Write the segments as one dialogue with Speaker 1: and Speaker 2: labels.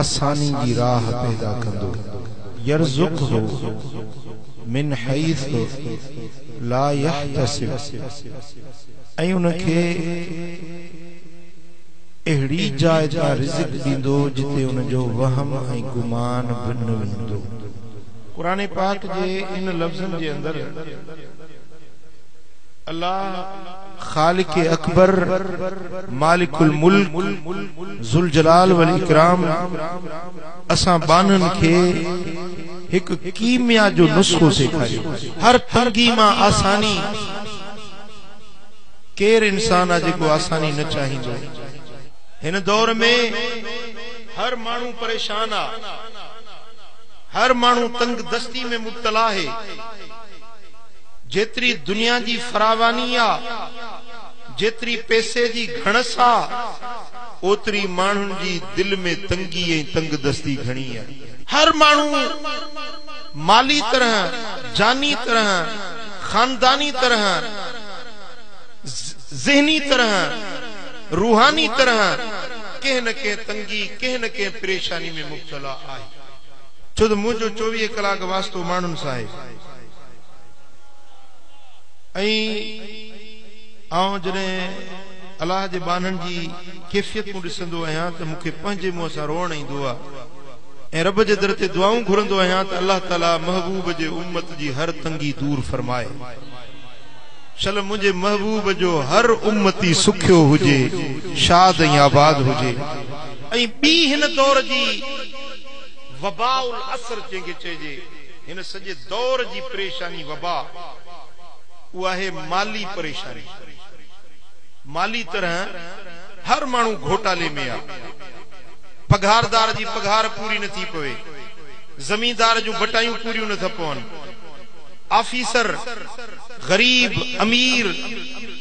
Speaker 1: آساني جي راهه پيدا ڪندو. يرزقه من حيث لا يحتسب ۽ ان کي اهڙي جاء تان رزق ڏيندو جتي ان جو وهم ۽ گمان به نه ويندو. قرآن پاڪ جي ان لفظن جي اندر الله. خالق اڪبر، مالڪ الملڪ، ذوالجلال والاڪرام اسان ٻانهن کي هڪ ڪيميا جو نسخو سيکاريو. هر تنگي مان آساني، ڪير انسان آ جيڪو آساني نه چاهيندو. هن دور ۾ هر ماڻهو پريشان آ، هر ماڻهو تنگ دستي ۾ مبتلا آهي. جيتري دنيا جي فراواني آ، جيتري پئسي جي گهڻس آ، اوتري ماڻهن جي دل ۾ تنگي ۽ تنگدستي گهڻي آ. هر ماڻهو مالي طرح، جاني طرح، خانداني طرح، ذهني طرح، روحاني طرح ڪنهن نه ڪنهن تنگي، ڪنهن نه ڪنهن پريشاني ۾ مبتلا آهي. ڇو ته منهنجو چوويهه ڪلاڪ واسطو ماڻهن سان آهي. ۽ آئون جڏهن الله جي ٻانهن جي ڪيفيتون ڏسندو آهيان ته مون کي پنهنجي منهن سان روئڻ ايندو آهي ۽ رب جي در تي دعائون گهرندو آهيان ته الله تعالي محبوب جي امت جي هر تنگي دور فرمائي شل منهنجي محبوب جو هر امتي سکيو هجي شاد ۽ آباد هجي ۽ ٻي هن دور جي وباء العصر جنهن کي چئجي هن سڄي دور جي پريشاني وبا اهاهي مالي پريشاني مالي طرح هر ماڻهو گهوٽالي ۾ آ پگهاردار جي پگهار پوري نه ٿي پوي زميندار جون بٽايون پوريون نه ٿا پون آفيسر غريب امير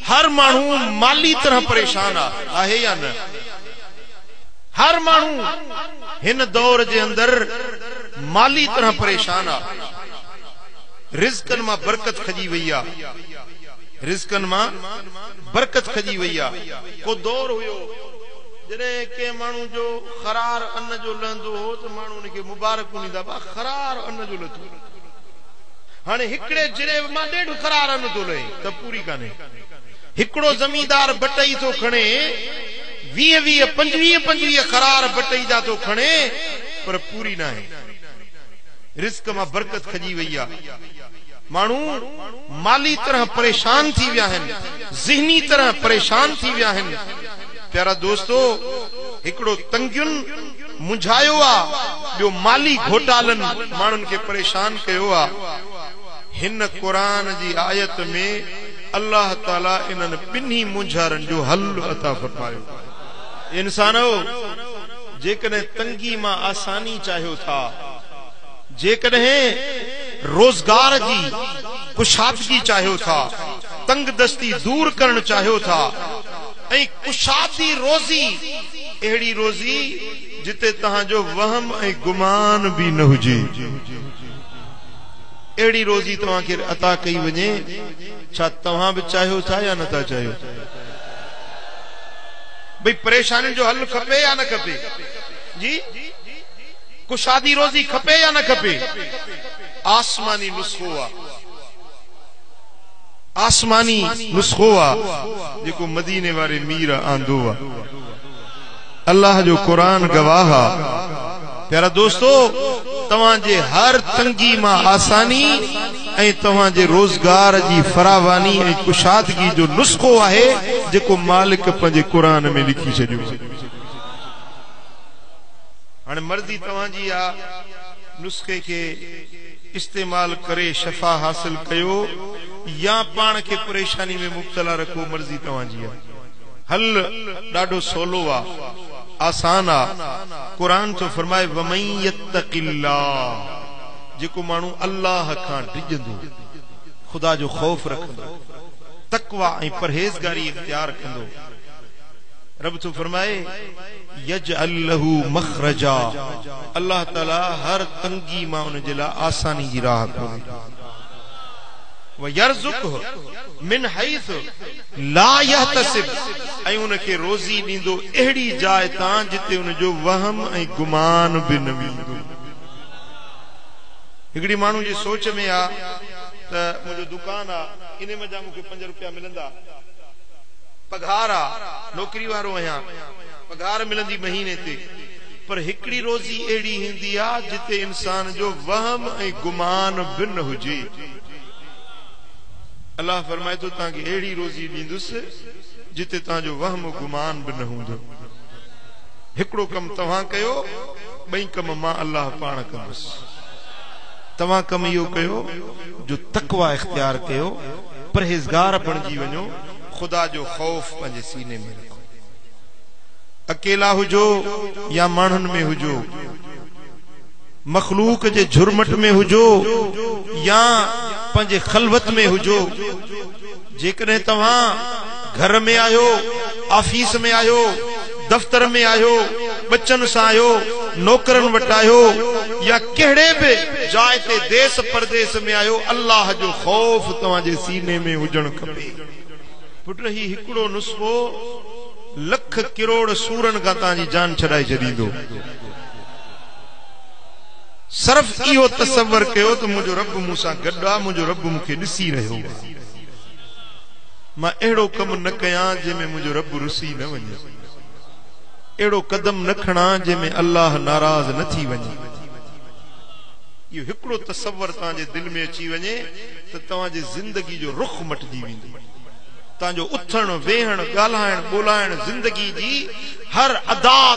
Speaker 1: هر ماڻهو مالي طرح پريشان آ آهي يا نه. هر ماڻهو هن دور جي اندر مالي طرح پريشان آ رزقن مان برڪت کڄي وئي آ رزقن مان برڪت کڄي وئي آ ڪو دور هيو جڏهن ڪنهن ماڻهو جو خرار ان جو لهندو هو ته ماڻهو ان کي مبارڪون ڏيندا با خرار ان جو لٿو هاڻي هڪڙي جريب مان ڏيڍ خرار ان ٿو لهي ته پوري ڪانهي هڪڙو زميندار بٽئي ٿو کڻي ويهه ويهه پنجويهه پنجويهه قرار بٽئي جا ٿو کڻي پر پوري ناهي رزق مان برڪت کڄي وئي آ ماڻهو مالي طرح پريشان ٿي ويا آهن ذهني طرح پريشان ٿي ويا آهن پيارا دوستو هڪڙو تنگين منجهايو آ ٻيو مالي گهوٽالن ماڻهن کي پريشان ڪيو آ هن قرآن جي آيت ۾ الله تعالي انهن ٻنهي مونجهارن جو حل عطا فرمايو. اي انسانؤ! جيڪڏهن تنگي مان آساني چاهيو ٿا، جيڪڏهن روزگار جي ڪشادگي چاهيو ٿا، تنگدستي دور ڪرڻ چاهيو ٿا ۽ ڪشادي روزي، اهڙي روزي جتي توهان جو وهم ۽ گمان به نه هجي. اهڙي روزي توهان کي عطا ڪئي وڃي، ڇا توهان به چاهيو ٿا يا نه ٿا چاهيو؟ ڀئي پريشانين جو حل کپي يا نه کپي؟ جي ڪشادي روزي کپي يا نه کپي؟ آسماني نسخو آ، آسماني نسخو آ، جيڪو مديني واري مير آندو آ. الله جو قرآن گواهه آ. پيارا دوستو! توهان جي هر تنگي مان آساني ۽ توهان جي روزگار جي فراواني ۽ ڪشادگي جو نسخو آهي جيڪو مالڪ پنهنجي قرآن ۾ لکي ڇڏيو آهي. هاڻي مرضي توهان جي آ نسخي کي استعمال ڪري شفا حاصل ڪيو يا پاڻ کي پريشاني ۾ مبتلا رکو مرضي توهان جي آ. حل ڏاڍو سولو آ آسان آ قرآن ٿو فرمائي ومن يتق الله جيڪو ماڻهو الله کان ڊڄندو خدا جو خوف رکندو تقويٰ ۽ پرهيزگاري اختيار ڪندو رب ٿو فرمائي يجعل له مخرجا الله تعالي هر تنگي مان ان جي لاء آساني جي راهه کولي ويرزقه من حيث لا يحتسب ۽ ان کي روزي ڏيندو اهڙي جاء تان جتي ان جو وهم ۽ گمان به نه ويندو. هڪڙي ماڻهو جي سوچ ۾ آ ته منهنجو دڪان آ انهي منجهان مون کي پنج روپيا ملندا، پگهار آ، نوڪري وارو آهيان، پگهار ملندي مهيني تي، پر هڪڙي روزي اهڙي هيندي آ جتي انسان جو وهم ۽ گمان به نه هجي. الله فرمائي ٿو توهان کي اهڙي روزي ڏيندس جتي توهان جو وهم و گمان به نه هوندو. هڪڙو ڪم توهان ڪيو، ٻئي ڪم مان الله پاڻ ڪندس. توهان ڪم اهو ڪيو جو تقويٰ اختيار ڪيو، پرهيزگار بڻجي وڃو، خدا جو خوف پنهنجي سيني ۾ رکو. اڪيلا هجو يا ماڻهن ۾ هجو. مخلوق جي جھرمٽ ۾ ھجو يا پنھنجي خلوت ۾ ھجو، جيڪڏھن توھان گھر ۾ آھيو، آفيس ۾ آھيو، دفتر ۾ آھيو، ٻچن سان آھيو، نوڪرن وٽ آھيو يا ڪھڙي به جاء تي ديس پرديس ۾ آھيو، الله جو خوف توھان جي سيني ۾ ھجڻ کپي. پٽ ھي ھڪڙو نسخو لک ڪروڙ سورن کان توھان جي جان ڇڏائي ڇڏيندو. صرف اهو تصور ڪيو ته منهنجو رب مون سان گڏ آ، منهنجو رب مون کي ڏسي رهيو آ. مان اهڙو ڪم نه ڪيان جنهن ۾ منهنجو رب رسي نه وڃي. اهڙو قدم نه کڻان جنهن ۾ الله ناراض نه ٿي وڃي. اهو هڪڙو تصور توهان جي دل ۾ اچي وڃي ته توهان جي زندگي جو رخ مٽجي ويندو. توهان جو اٿڻ، ويهڻ، ڳالهائڻ، ٻولهائڻ، زندگي جي هر ادا